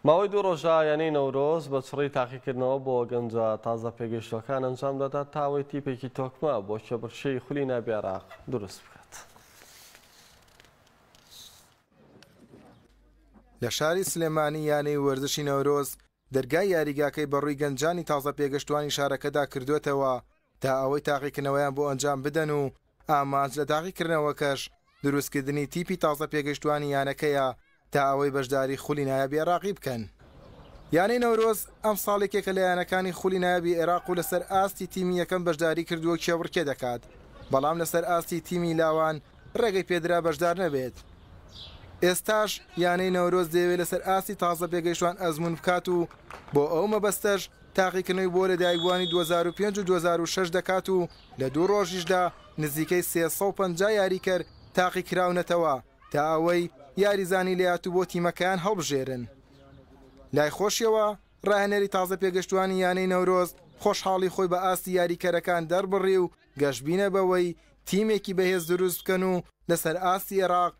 ماوەی دوو ڕۆژە یانەی نەورۆز بە چڕی تاقیکردنەوە بۆ گەنجە تازە پێگەیشتووەکان ئەنجام دەدات تا ئەوەی تیپێکی تۆکمە بۆ کێبڕکێی خولی ناوی عێراق دروست بکات. لە شاری سلێمانی یانەی وەرزشی نەورۆز دەرگای یاریگاکەی بەڕووی گەنجانی تازە پێگەشتووانی شارەکەدا کردووەتەوە تا ئەوەی تاقیکردنەوەیان بۆ ئەنجام بدەن و ئامانج لە تاقیکردنەوەکەش دروستکردنی تیپی تازە پێگەیشتوانی یانەکەیە تا ئەوەی بەشداری خولی نایابی عێراقی بکەن. یانەی نەورۆز ئەمساڵ یەکێکە لە یانەکانی خولی نایابی عێراق و لەسەر ئاستی تیمی یەکەم بەشداری کردووە کێبڕکێ دەکات، بەڵام لەسەر ئاستی تیمی لاوان رێگەی پێدرا بەشدار نەبێت. ئێستاش یانەی نەورۆز دەیەوێت لەسەر ئاستی تازە پێگەیشتوان ئەزموون بکات و بۆ ئەو مەبەستەش تاقیکردنەوەی بۆ لەدایکبووانی دوو هەزار و پێنج و دوو هەزار و شەش دەکات و لە دوو ڕۆژیشدا نزیکەی سێ سەد و پەنجا یاریکەر تاقیکراونەتەوە تا ئەوەی یاریزانانی لەیات و بۆ تیمەکەیان هەڵبژێرن. لای خۆشیەوە، ڕاهێنەری تازە پێگەشتووانی یانەی نەورۆز خۆشحاڵی خۆی بە ئاستی یاریکەرەکان دەربڕی و گەشبینە بەوەی تیمێکی بەهێز دروست بکەن و لەسەر ئاستی ئێراق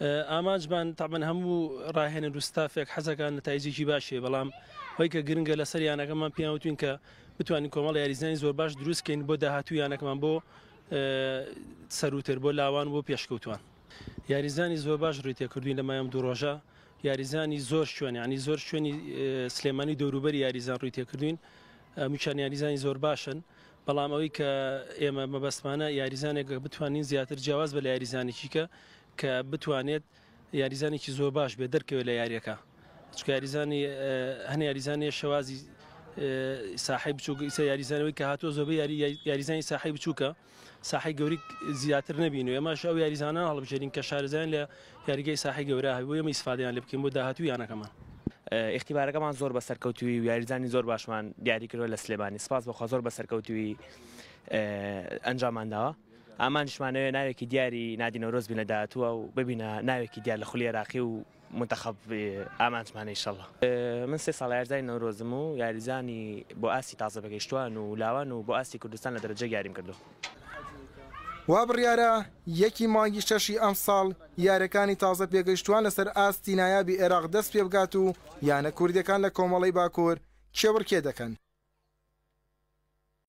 ئامانجمان تەبەن هەموو ڕاهێنەر و ستافێک حەزەکان نەتایجێکی باشێ بەڵام هۆی کە گرنگە لەسەر یانەکەمان پیاوتوین کە بتوانین کۆمەڵ یاریزانی زۆر باش دروستکەین بۆ داهاتوو یانەکەمان بۆ سەروتر بۆ لاوان بۆ پێشکەوتوان یاریزانی زۆر باش ڕووی تێکردوین لەمایم دوو ڕۆژە یاریزانی زۆر شوێن ینی زۆر شوێنی سلێمانی دەوروبەر یاریزان ڕووی تێکردوین میچان یاریزانی زۆر باشن بەڵام ئەوەی کە ئێمە مەبەستمانە یاریزانێک بتوانین زیاتر جیاواز بە لە یاریزانێکی کە کە بتوانێت یاریزانێکی زۆر باش بێ دەرکەوێت لە یاریەکە چکە یاریزانی هەن یاریزانانی شێوازی ساحی بچووک ئیسە یاریزانەوەی کە هاتۆ زۆبە یاری یاریزانی ساحی بچووکە ساحی گەوری زیاتر نبین و ئێماش ئەو یاریزانان هەڵبژێرین کە شارزان لە یاریگای ساحەی گەورە هەبێت بۆ ئێمە ئیسفادەیان لێ بکەین بۆ داهاتووی یانەکەمان. ئیختیبارەکەمان زۆر بەسەرکەوتووی و یاریزانی زۆر باشمان دیاری کردووە لە سلێمانی سپاس بەخوا زۆر بەسەرکەوتووی ئەنجاممان داوە ئامانجشمانەوێت ناوێکی دیاری نادی نەورۆز بین لە داهاتووە و ببینە ناوێکی دیار لە خولی عێراقی و منتەخەب ئامانجمانە ئیشەڵڵا. من سێ ساڵە یاریزانی نەورۆزم و یاریزانی بۆ ئاستی تازە بەگەیشتووان و لاوان و بۆ ئاستی کوردستان لە دەرەجەیەک یاریم کردووە. وا بڕیارە یەکی مانگی شەشی ئەمساڵ یارەکانی تازە پێگەیشتوان لەسەر ئاستی نایابی عێراق دەست پێ بگات و یانە کوردیەکان لە کۆمەڵەی باکور کێبڕکێ دەکەن.